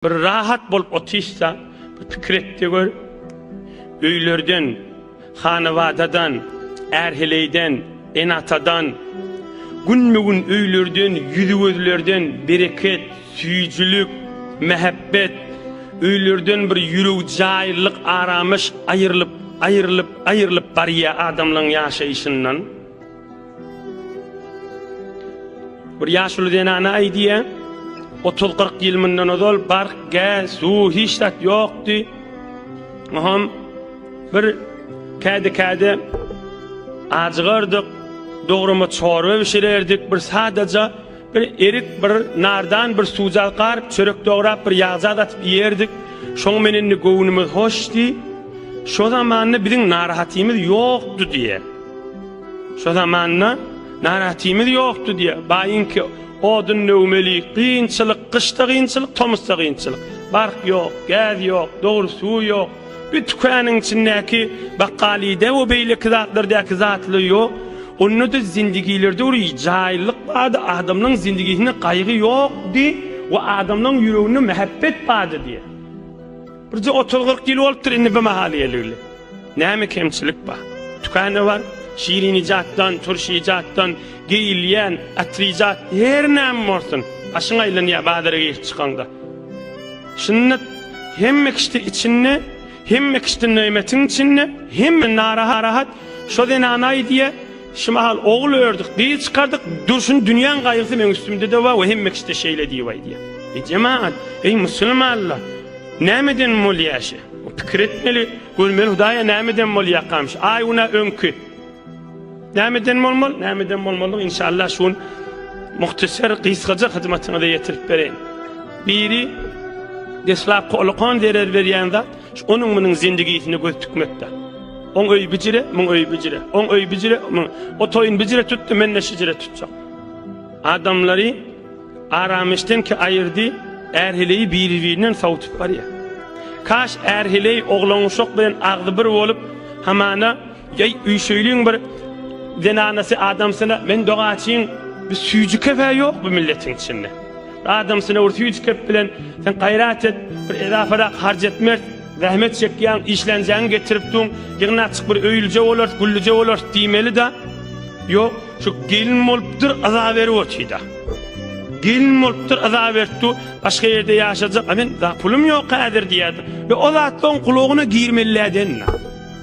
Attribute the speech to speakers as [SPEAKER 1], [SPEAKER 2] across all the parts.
[SPEAKER 1] Bir rahat bolup otyşsa, bir pikir et-de gör, öýlerden, hanabadadan, är-heleýden, ene-atadan, günbe-gün öýlerden, ýüzi-gözlerden bereket, süýjülik, mähebbet, öýlerden bir ýüregjäýlyk, arameş aýrylyp, aýrylyp, aýrylyp barýa adamlaryň ýaşaýşyndan. Bir ýaşuly zenana aýdýar, 30-40 ýyl mundan ozal bark, gäz, suw hiç zat ýokdy. Oňam bir käde-käde ajygardyk, dograma çorba bişirerdik, bir sadaja Bir erik, bir nardan, bir suwjak garyp, çörek dograp, bir ýagjat atyp iýerdik. Şoň men indi göwnümiz hoş diý. Şo zamanda biziň narahatymyz ýokdy diý. Şo zamanda narahatymyz ýokdy diý. Baýyňky odun döwmeli, kynçylyk, gyşda kynçylyk, tomusda kynçylyk. Bark ýok, gäz ýok, dogry suw ýok. Bir tükanyň içindäki bakgalyda we beýleki zatlardäki zatly ýok. Onda-da zindigilerde bir jaýyllyk bardy, adamlaryň zindigisinde gaýgy ýokdy we adamlaryň ýüreginde mähebbet bardy diýýär. Birje otuz-kyrk ýyl bolupdyr indi bu mahal geleli. Näme kemçilik bar? Tükanda bar, şirin ijatdan, turş ijatdan, geýilýän, atyr ijat, her näme bolsun, başyň aýlanýar bazara girip çykaňda. Sünnet hemme kişide içinde, hemme kişide nöýmetiň içinde, hemme narahat, şo zenanaý diýe, şu mahal ogul ördük, gyz çykardyk, durşun dünýäň gaýgysy meň üstümde-de bar we hemme kişide şeýle diýibaý diýe. Eý jemagat, eý musulmanlar, nämeden bolýa şe? Pikir etmeli, görmeli Hudaýa nämeden bolýakam şe? Aý günä öňki. Nämeden bolmaly? Nämeden bolmaly? Inşallah şu gün muhtasar gysgaja hyzmatyňyza ýetirip bereýin. Biri deslapky ulukan zerer berýän zat, onuň munuň zindigisine göz tikmekde. On öý bijire, muň öý bijire. On öý bijire, muň. O toýun bijire tutdy, men de şijire tutjak. Adamlary aramişden ki ayırdı, erhileyi biri-birinden savutup barýar. Kaş erhileyi oglan uşak bilen agzy bir bolup, hamana Ýeý, üýşeýliň bir zenanasy adamsyna men dogaçyň. Bir süýji kefe ýok bu milletiň içinde. Adamsyna bir süýji kep bilen sen gaýrat et, bir edaparak harç et mert, zähmet çekýäň, işlänjäňi getirip duň, ýygnaçyk bir öýlije bolarys, güllije bolarys diýmeli-dä. Ýok, şu gelin bolupdyr, yza berip otyda. Gelin bolupdyr, yza beripdi, başga ýerde ýaşajak, a men pulum ýok häzir diýýärdi. Ýa o zatlaryň kulagyna girmeli-dä denda.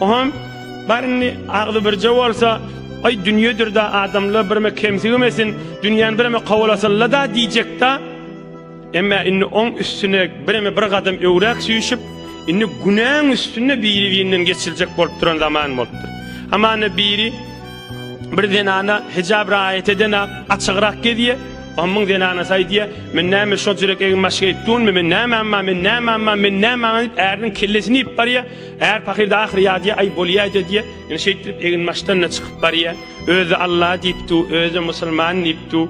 [SPEAKER 1] Oňam bar indi agzy birje bolsa, Aý dünýedir-dä adamlar birme kemsigimesin, dünýäni bireme kowalasylla-da diýjek-dä. Emma indi oň üstüne bireme bir gadam öwräk süýşüp, indi günäň üstünde biri-birinden geçiljek bolup duran zaman bolupdyr. Hamana biri bir zenana hijap raýat edena açygrak gezýä, oňam zenanasy aýdýa, Men näme şojürek egin-başga etdunmi, men näme amma, men näme amma, men näme amma diýip äriniň kellesini iýip barýa. Är pahyr-da ahyry ýadýa, aý, bolýaýda diýýä. Ine, şeýtdirip eginbaşdan-da çykyp barýa. Özi Alla diýip dur, özi-de musulman diýip dur.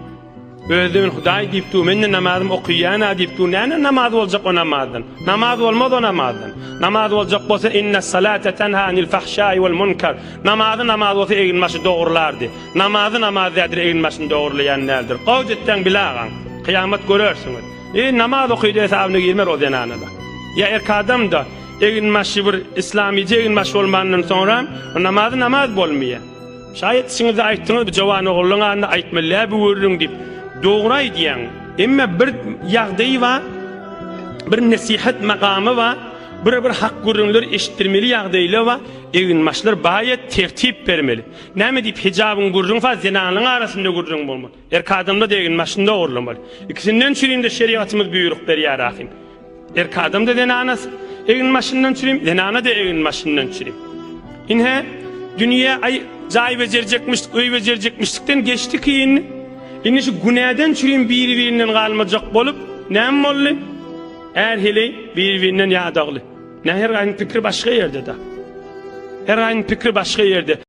[SPEAKER 1] Özi-de men Hudaý diýip dur, men-de namazymy okaýan-a diýip dur. Näme namaz boljak o namazdan? Namaz bolmaz o namazdan. Namaz boljak bolsa, innessalate tenha anil fahşai wal munkar. Namazy namaz bolsa eginbaşy dogrulardy. Namazy namaz däldir, eginbaşyny dogurlaýan däldir. Gowja etseň bile agaň. Kyýamat görersiňiz. Eý, namaz okaýdy hesabyna girmer o zenana-da. Ýa erk adam-da, Eginbaşy bir islamyja eginbaş bolmandan soňra namazy namaz bolmaýa. Şaýat içiňizde aýtdyňyz bu jowan ogullyň adyny aýtmylýa bu gürrüň diýip. Dogry aýdýaň. Emma bir ýagdaýy bar. Bir nesihat makamy bar. Bir bir hak gürrüňler eşitdirmeli ýagdaýlar bar. Eginbaşlar baýat tertip bermeli. Näme diýip hijabyň gürrüň fa zenanlaň arasynda gürrüň bolmaly. Erk adamda degin maşynda ogurlamaly. Ikisinden çürimde şerigatymyz büýrük berýär ahim. Erk adamda zenanas egin maşyndan çürim, zenana de egin maşyndan çürim. Inhe dünýä ay jaý bejerjekmişdik, öý bejerjekmişdikden geçdi kiyin. Indi şu günäden çürim biri-birinden galmajak bolup, näme boldy? Är hili biri-birinden ýadagly. Näher gaýyň pikri başga ýerde-de. Her gaýyň pikri başga ýerde.